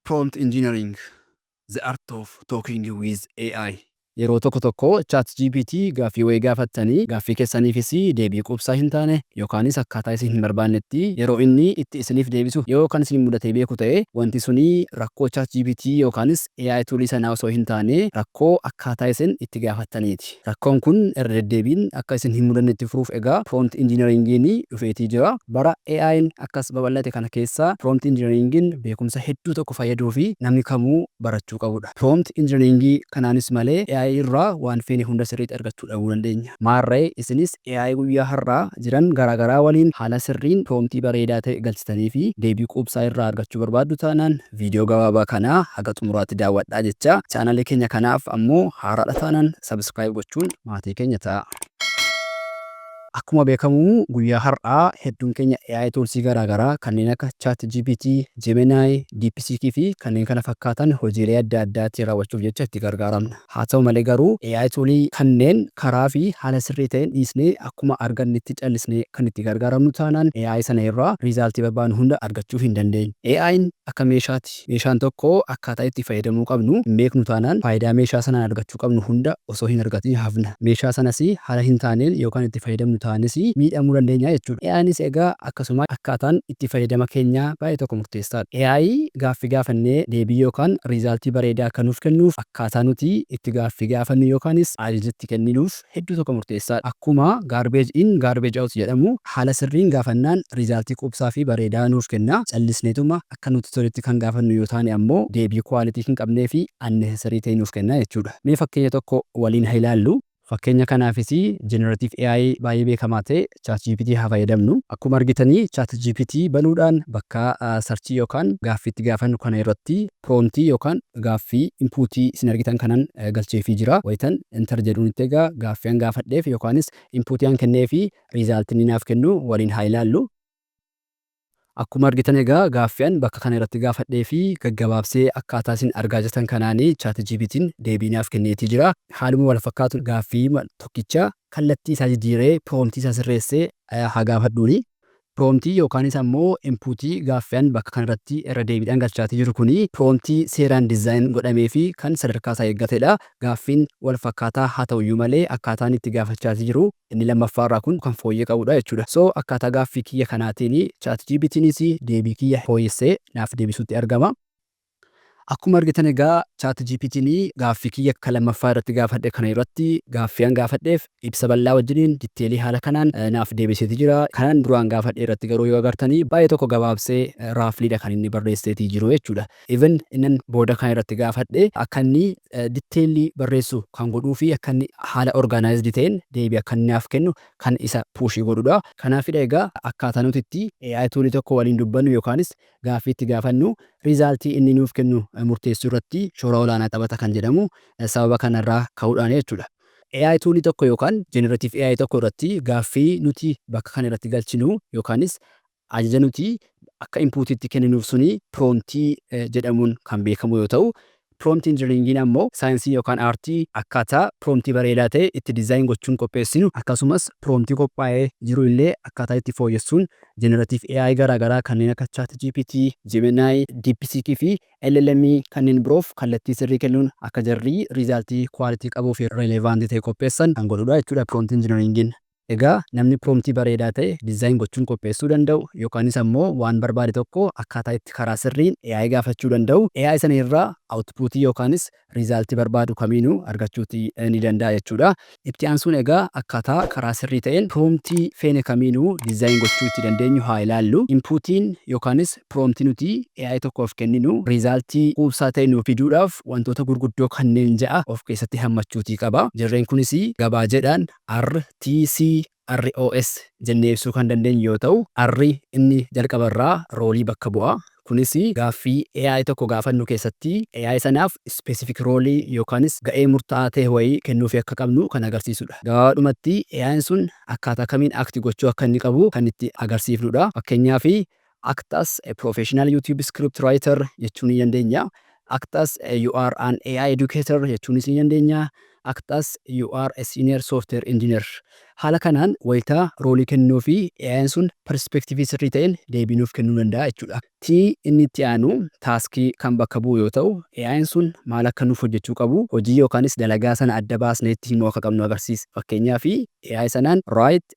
Prompt Engineering, The Art of Talking with AI. Yeroo tokko tokko ChatGPT gaaffii wayii gaafattanii gaaffii keessaniifis deebii quubsaa hin taane yookaanis akkaataa isin hin barbaannetti yeroo inni itti isiniif deebisu yoo kan isin mudatee beeku ta'e wanti suni rakkoo ChatGPT yookaanis AI tool sanaa osoo hin taane rakkoo akkaataa isin itti gaafattaniiti. Rakkoon kun irra deddeebiin akka isin hin mudanne itti furuuf egaa Prompt Engineering'n dhufeetii jira. Bara AI'n akkas babal'ate kana keessa Prompt Engineering'n beekumsa hedduu tokko fayyaduu fi namni kamuu barachuu qabu dha. Prompt Engineering kanaanis malee AI irraa waan feene hunda sirriitti argachuu dhabuu dandeenya. Maarree isinis AI guyyaa har'aa jiran garaa garaa waliin haala sirriin prompt bareedaa ta'e galchitanii fi deebii quubsaa irraa argachuu barbaaddu taanaan, Viidiyoo gabaabaa kana haga xumuraatti daawwadhaa jechaa, chaanalii keenya kanaaf ammoo haaraadha taanan subscribe gochuun maatii keenya ta'aa. Akkuma beekamu guyyaa har'aa hedduun keenya AI tools garaagaraa kanneen akka ChatGPT, Gemini, DeepSeek fi kanneen kana fakkaatan hojiilee adda addaa ittiin raawwachuuf jecha itti gargaaramna. Haa ta'u malee garuu AI tuulii kanneen karaa fi haala sirrii ta'een dhiisnee akkuma argannetti callisnee kan itti gargaaramnu taanaan AI sana irraa riizaaltii barbaannu hunda argachuu hin dandeenyu. AI'n akka meeshaati. Meeshaan tokko akkaataa itti fayyadamuu qabnu hin beeknu taanaan faayidaa meeshaa sanaan argachuu qabnu hunda osoo hin argatiin hafna. Meeshaa sanas haala hin taaneen yoo kan itti fayyadamnu taanes miidhamuu dandeenya jechuudha. AI'nis egaa akkasuma. Akkaataan itti fayyadama keenyaa baay'ee tokko murteessaadha. AI gaaffii gaafannee deebii yookaan riizaaltii bareedaa akka nuuf kennuuf akka. Akkaataa nuti itti gaaffii gaafannu yookaanis ajaja itti kenninuuf hedduu tokko murteessaadha. Akkuma garbage in garbage out jedhamu haala sirriin gaafannaan rizaaltii quubsaa fi bareedaa nuuf kenna. Callisneetuma akka nutti toletti kan gaafannu yoo taane ammoo deebii quality hin qabnee fi unnecessary ta'e nuuf kenna jechuudha. Mee fakkeenya tokko waliin ha ilaallu. Fakkeenya kanaafis Generative AI baay'ee beekamaa ta'e ChatGPT haa fayyadamnu. Akkuma argitani ChatGPT banuudhaan bakka sarchii yookaan gaaffii itti gaafannu kana irratti promptii yookaan gaaffii input isin argitan kanan galcheefii jira. Wayitan enter jedhuun itti egaa gaaffii an gaafadheef yookaanis input an kenneefi result inni naaf kennu waliin haa ilaallu. Akkuma argitan egaa gaaffii an bakka kana irratti gaafadhee fi gaggabaabsee akkaataa isin argaa jirtan kanaan ChatGPT'n deebii naaf kenneetii jira. Haaluma wal fakkaatuun gaaffiima tokkicha kallattii isaa jijjiiree prompt isaa sirreessee haa gaafadhuun. Prompt yookaanis ammoo input gaaffii an bakka kana irratti irra deebiidhaan galchaatii jiru kun prompt seeraan design godhamee fi kan sadarkaa isaa eeggatedha. gaaffiin walfakkaataa haa ta'uyyuu malee akkaataan itti gaafachaati jiru inni lammaffaarraa kun kan fooyyee qabudha jechuudha. So akkaataa gaaffii kiyya kanaatiin ChatGPTnis deebii kiyya fooyessee naaf deebisuutti argama. Akkuma argitan egaa ChatGPTn gaaffii kiyya kan lammaffaa irratti gaafadhe kana irratti gaaffii an gaafadheef ibsa bal'aa wajjiniin ditteelii haala kanaan naaf deebiseeti jira. Kanan duraan gaafadhe irratti garuu yoo agartanii baay'ee tokko gabaabsee raafliidha kan inni barreesseetii jiru jechuudha. Even innan booda kan irratti gaafadhe akka inni detailly barreessu kan godhuu fi akka inni haala organized ta'een deebii akka inni naaf kennu kan isa push godhu dha. Kanaafidha egaa akkaataa nuti itti AI tool tokko waliin dubbannu yookaanis gaaffii itti gaafannu result inni nuuf kennu murteessuu irratti shoora olaanaa taphata kan jedhamu sababa kana irraa ka'uudhaani jechuu dha. AI tool tokko yookaan generative AI tokko irratti gaaffii nuti bakka kana irratti galchinu yookaanis Ajaja nuti akka inpuutiitti kenninuuf suni piroomtii jedhamuun kan beekamu yoo ta'u, piroomtii injinariingiin ammoo saayinsii yookaan aartii akkaataa piroomtii bareedaa ta'e itti dizaayin gochuun qopheessinu akkasumas piroomtii qophaa'ee jiru illee akkaataa itti fooyyessuun jeneratiiv AI garaagaraa kanneen akka ChatGPT, Gemini, DeepSeek fi LLM kanneen biroof kallattii sirrii kennuun akka jarri riizaaltii kuwaalitii qabuu fi relevaantii ta'e qopheessan kan godhudha jechuudha piroomtii injinariingiin. Egaa namni prompt bareedaa ta'e design gochuun qopheessuu danda'u yookaanis ammoo waan barbaade tokko akkaataa itti karaa sirriin AI gaafachuu danda'u AI sana irraa output yookaanis result barbaadu kamiinuu argachuuti ni danda'a jechuudha. Itti aansuun egaa akkaataa karaa sirrii ta'een prompt feene kamiinuu design gochuu itti dandeenyu haa ilaallu. Input'n yookaanis prompt nuti AI tokkoof kenninu result quubsaa ta'e nuuf fiduudhaaf wantoota gurguddoo kanneen ja'a of keessatti hammachuutii qaba. Jarreen kunis gabaajeedhaan RTC, ROS jennee ibsuu kan dandeenyu yoo ta'u, R inni jalqaba irraa roolii bakka bu'a. Kunis gaaffii AI tokko gaafannu keessatti AI sanaaf specific role yookaanis ga'ee murtaa'aa ta'e wayii kennuufii akka qabnu kan agarsiisudha. Gabaabaadhumatti AI'n sun akkaataa kamiin act gochuu akka inni qabu kan itti agarsiifnudha. Fakkeenyaaf Act as a professional YouTube script writer jechuu ni dandeenya. Act as you are an AI educator jechuunis ni dandeenya. Act as you are a senior software engineer. Haala kanaan wayita roolii kennuu fi AI'n sun perspektiivii sirrii ta'een deebii nuuf kennuu danda'a jechuudha. T inni itti aanu task kan bakka bu'u yoo ta'u, AI'n sun maal akka nuuf hojjechuu qabu, hojii yookaanis dalagaa sana adda baasnee itti himuu akka qabnu agarsiisa. Fakkeenyaaf AI sanaan write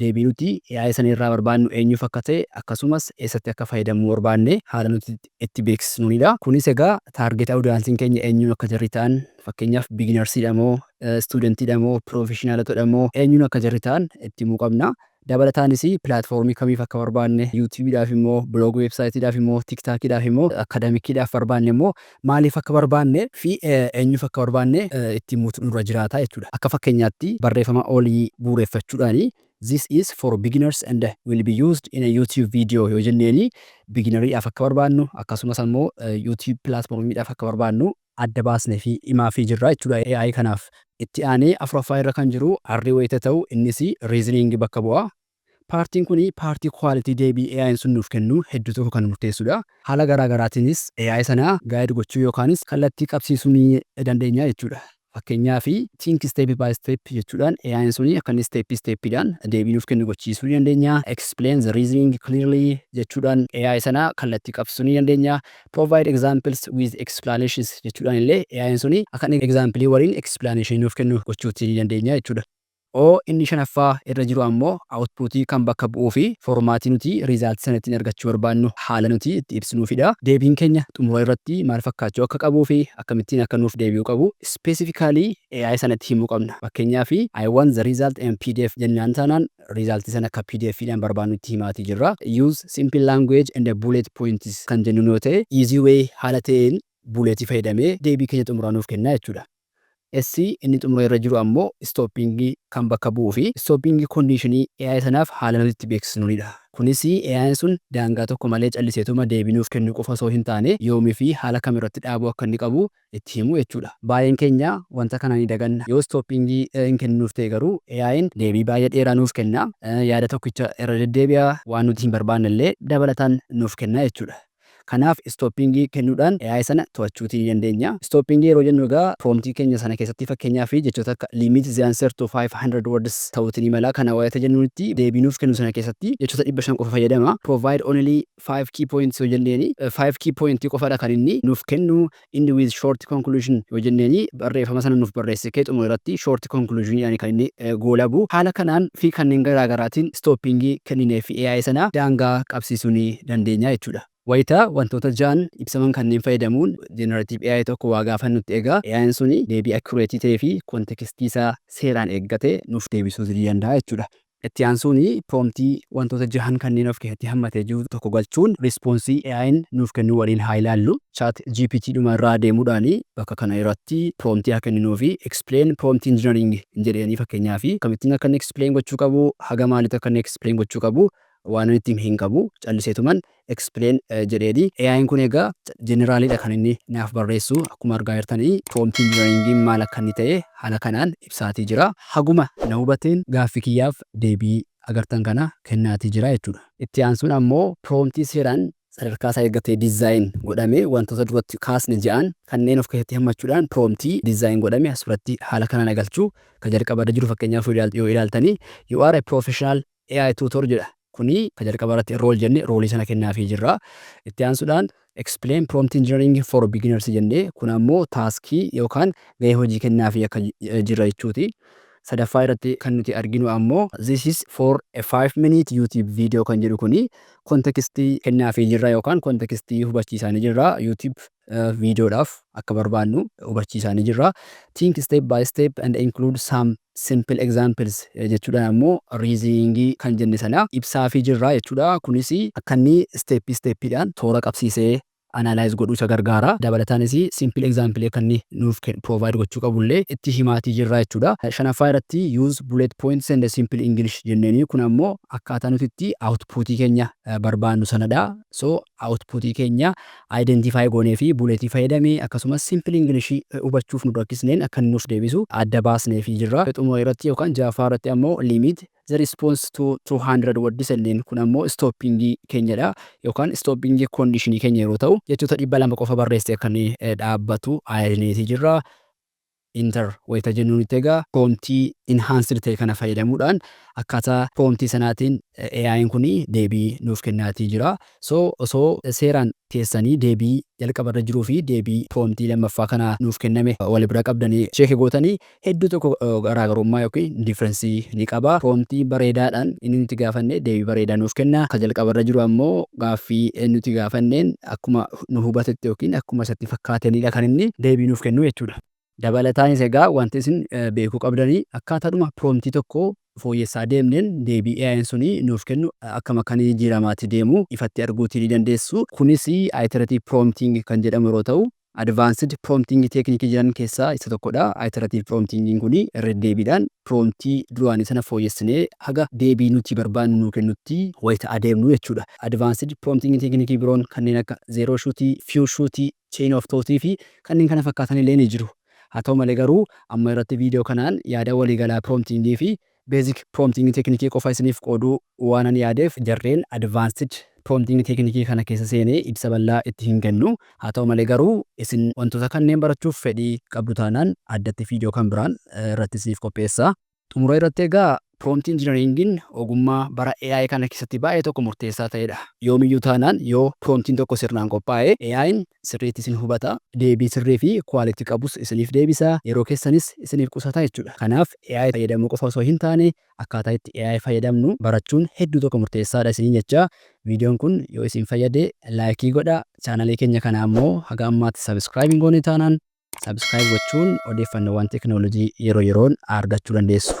Deebii nuti yaa'ii sana irraa barbaannu eenyuuf akka ta'e akkasumas eessatti akka fayyadamuu barbaanne haala nuti itti beeksisnuuni dha. Kunis egaa taargeet awudiyaansiin keenya eenyuun akka jarri ta'an fakkeenyaaf biginarsi dha moo, istuudantii dha moo, piroofeshinaalota dha moo eenyuun akka jarri ta'an itti himuu qabna. Dabalataanis pilaatfoormii kamiif akka barbaanne, yuutuubii dhaaf immoo, biloogii weebsaayitii dhaaf immoo, tiiktaakii dhaaf immoo, akkadamikii dhaaf barbaanne immoo maaliif akka barbaanne fi eenyuuf akka barbaanne itti himuutu nurra jiraata jechuu dha. Akka fakkeenyaatti barreefama olii bu'uureffachuudhaani This is for beginners and will be used in a YouTube video yoo jenneeni biginariidhaaf akka barbaannu akkasumas ammoo YouTube pilaatformiidhaaf akka barbaannu adda baasneefi himaafii jirra jechuu dha AI kanaaf. Itti aanee afuraffaa irra kan jiru arrii wayita ta'u innis reasoning bakka bu'a. Paartiin kun paartii quality deebii AI'n sun nuuf kennu hedduu tokko kan murteessudha. Haala garaa garaatiinis AI sana guide gochuu yookaanis kallattii qabsiisuu ni dandeenya jechuudha. Fakkeenyaaf think step by step jechuudhaan AI'n sun akka inni step step dhaan deebii nuuf kennu gochiisuu ni dandeenya. Explain the reasoning clearly jechuudhaan AI sana kallattii qabsiisuu ni dandeenya. Provide examples with explanations jechuudhaan illee AI'n sun akka inni example waliin explanation nuuf kennu gochuutii ni dandeenya jechuudha. o Inni shanaffaa irra jiru ammoo output kan bakka bu'uufi foormaatii nuti result sana ittiin argachuu barbaannu haala nuti itti ibsinuufidha. Deebiin keenya xumura irratti maal fakkaachuu akka qabuufi akkamittiin akka nuuf deebi'uu qabu specifically AI sanatti himuu qabna. Fakkeenyaaf I want the result in pdf jennaan taanaan result sana akka pdf dhaan barbaannutti himaatii jirra. Use simple language and bullet points kan jennuun yoo ta'e easy way haala ta'een bullet fayyadamee deebii keenya xumuraa nuuf kenna jechuudha. S inni xumura irra jiru ammoo stopping kan bakka bu'uu fi stopping condition AI sanaaf haala nuti itti beeksisnuuni dha. Kunis AI'n sun daangaa tokko malee calliseetuma deebii nuuf kennuu qofa osoo hin taane yoomii fi haala kam irratti dhaabuu akka inni qabu itti himuu jechuu dha. Baay'een keenya wanta kana ni daganna. Yoo stopping hin kenninuuf ta'e garuu AI'n deebii baay'ee dheeraa nuuf kenna, yaada tokkicha irra deddeebi'a, waan nuti hin barbaanne illee dabalataan nuuf kenna jechuu dha. Kanaaf istooppiingii kennuudhaan AI sana to'achuutii ni dandeenya. Istooppiingii yeroo jennu egaa promptii keenya sana keessatti fakkeenyaaf jechoota akka limit the answer to 500 words ta'uutii ni mala. Kana wayita jennuunitti deebii nuuf kennu sana keessatti jechoota 500 qofa fayyadama. Provide only five key points yoo jenneeni five key point qofadha kan inni nuuf kennu. End with short conclusion yoo jenneeni barreeffama sana nuuf barreesse kee xumura irratti short conclusion jedhani kan inni goolabu. Haala kanaan fi kanneen garaa garaatiin stopping kennineefi AI sana daangaa qabsiisuu ni dandeenya jechuudha. Wayita wantoota ja'an ibsaman kanneen fayyadamuun generative AI tokko waa gaafannutti egaa AI'n suni deebii accurate ta'eefi context isaa seeraan eeggate nuuf deebisuuti ni danda'a jechuudha. Itti aansuun piroomtii wantoota jahan kanneen of keessatti hammatee jiru tokko galchuun riispoonsii AI'n nuuf kennu waliin haa ilaallu. Chat GPT dhuma irraa deemuudhaan bakka kana irratti piroomtii haa kenninuu fi explain prompt engineering hin jedheeni fakkeenyaaf akkamittiin akka inni explain gochuu qabu haga maaliitti akka inni explain gochuu qabu waanan itti hime hin qabu calliseetuman explain jedheeni. AI'n kun egaa generally dha kan inni naaf barreessu. Akkuma argaa jirtani prompt engineering'n maal akka inni ta'e haala kanaan ibsaatii jira. Haguma na hubateen gaaffi kiyyaaf deebii agartan kana kennaatii jira jechuudha. Itti aansuun ammoo prompt seeraan sadarkaa isaa eeggate design godhame wantoota duratti kaasne ja'an kanneen of keessatti hammachuudhaan prompt design godhame as biratti haala kanaan agalchu. Ka jalqaba irra jiru fakkeenyaaf yoo ilaaltani you are a professional AI Tutor jedha. Kuni ka jalqaba irratti Enroll jenne roolii sana kennaafii jirra. Itti aansuudhaan Explain Prompt Engineering for Beginners jenne kun ammoo taaskii yookaan gahee hojii kennaafii akka jirra jechuuti. Sadaffaa irratti kan nuti arginu ammoo This is for a five minute YouTube video kan jedhu kuni context kennaafii jirra yookaan context hubachiisaanii jirra. YouTube viidiyoodhaaf akka barbaannu hubachiisaanii jirra. Think step by step and include some simple examples jechuudhaan ammoo riiziniingii kan jenne sana ibsaafii jirra jechuudha. Kunis akka inni isteeppii isteeppiidhaan toora qabsiisee analyze godhu isa gargaara. Dabalataanis simple example akka inni nuuf provide gochuu qabu illee itti himaatii jirra jechuudha. Shanaffaa irratti use bullet points and simple English jenneenii kun ammoo akkaataa nuti itti output keenya barbaannu sanadha. So output keenya identify goonee fi bullet fayyadamee akkasumas simple English hubachuuf nu rakkisneen akka inni nuuf deebisu adda baasneefii jirra. Xumura irratti yookaan 6ffaa irratti ammoo limit the response to 200 words jenneen. Kun ammoo stopping keenya dha yookaan stopping condition keenya yeroo ta'u jechoota 200 qofa barreessee akka inni dhaabbatu ayajneefii jirra. Enter wayita jennu nutti egaa prompt enhanced ta'e kana fayyadamuudhaan akkaataa prompt sanaatiin AI'n kun deebii nuuf kennaatii jira. So osoo seeraan keessanii deebii jalqaba irra jiruu fi deebii prompt lammaffaa kana nuuf kenname wal bira qabdanii check gootanii hedduu tokko garaagarummaa yookiin difference ni qaba. Prompt bareedaadhaan inni nuti gaafanne deebii bareedaa nuuf kenna. Ka jalqaba irra jiru ammoo gaaffii nuti gaafanneen akkuma nu hubatetti ykn akkuma isatti fakkaateenidha kan inni deebii nuuf kennu jechuudha. Dabalataanis egaa wanti isin beekuu qabdan akkaataadhuma promptii tokko fooyyessaa deemneen deebii AI'n suni nuuf kennu akkam akka inni jijjiiramaati deemu ifatti arguuti ni dandeessu. Kunis iterative prompting kan jedhamu yeroo ta'u advanced prompting technique jiran keessaa isa tokkodha. Iterative prompting kun irra deddeebiidhaan promptii duraanii sana fooyyessinee haga deebii nuti barbaannu nuu kennutti wayita adeemnu jechuudha. Advanced Prompting Teeknikii biroon kanneen akka Zero Shoot, Few Shoot, Chain of Thought fi kanneen kana fakkaatan illee ni jiru. Haa ta'u malee garuu amma irratti video kanaan yaada walii galaa prompting fi basic prompting teeknikii qofa isiniif qooduu waanan yaadeef jarreen advanced prompting teeknikii kana keessa seenee ibsa bal'aa itti hin kennu. Haa ta'u malee garuu isin wantoota kanneen barachuuf fedhii qabdu taanaan addatti video kan biraan irratti isiniif qopheessa. Xumura irratti egaa Prompt Engineering'n ogummaa bara AI kana keessatti baay'ee tokko murteessaa ta'edha. Yoomiyyuu taanaan yoo Prompt'n tokko sirnaan qophaa'e AI'n sirriitti isin hubata, deebii sirrii fi quality qabus isiniif deebisa, yeroo keessanis isiniif qusata jechuudha. Kanaaf AI fayyadamuu qofa osoo hin taane akkaataa itti AI fayyadamnu barachuun hedduu tokko murteessaadha isiniin jechaa videon kun yoo isin fayyade like godhaa, channel keenya kana ammoo haga ammaatti subscribe hin goone taanaan Subscribe gochuun odeeffannoowwan teeknooloojii yeroo yeroon argachuu dandeessu.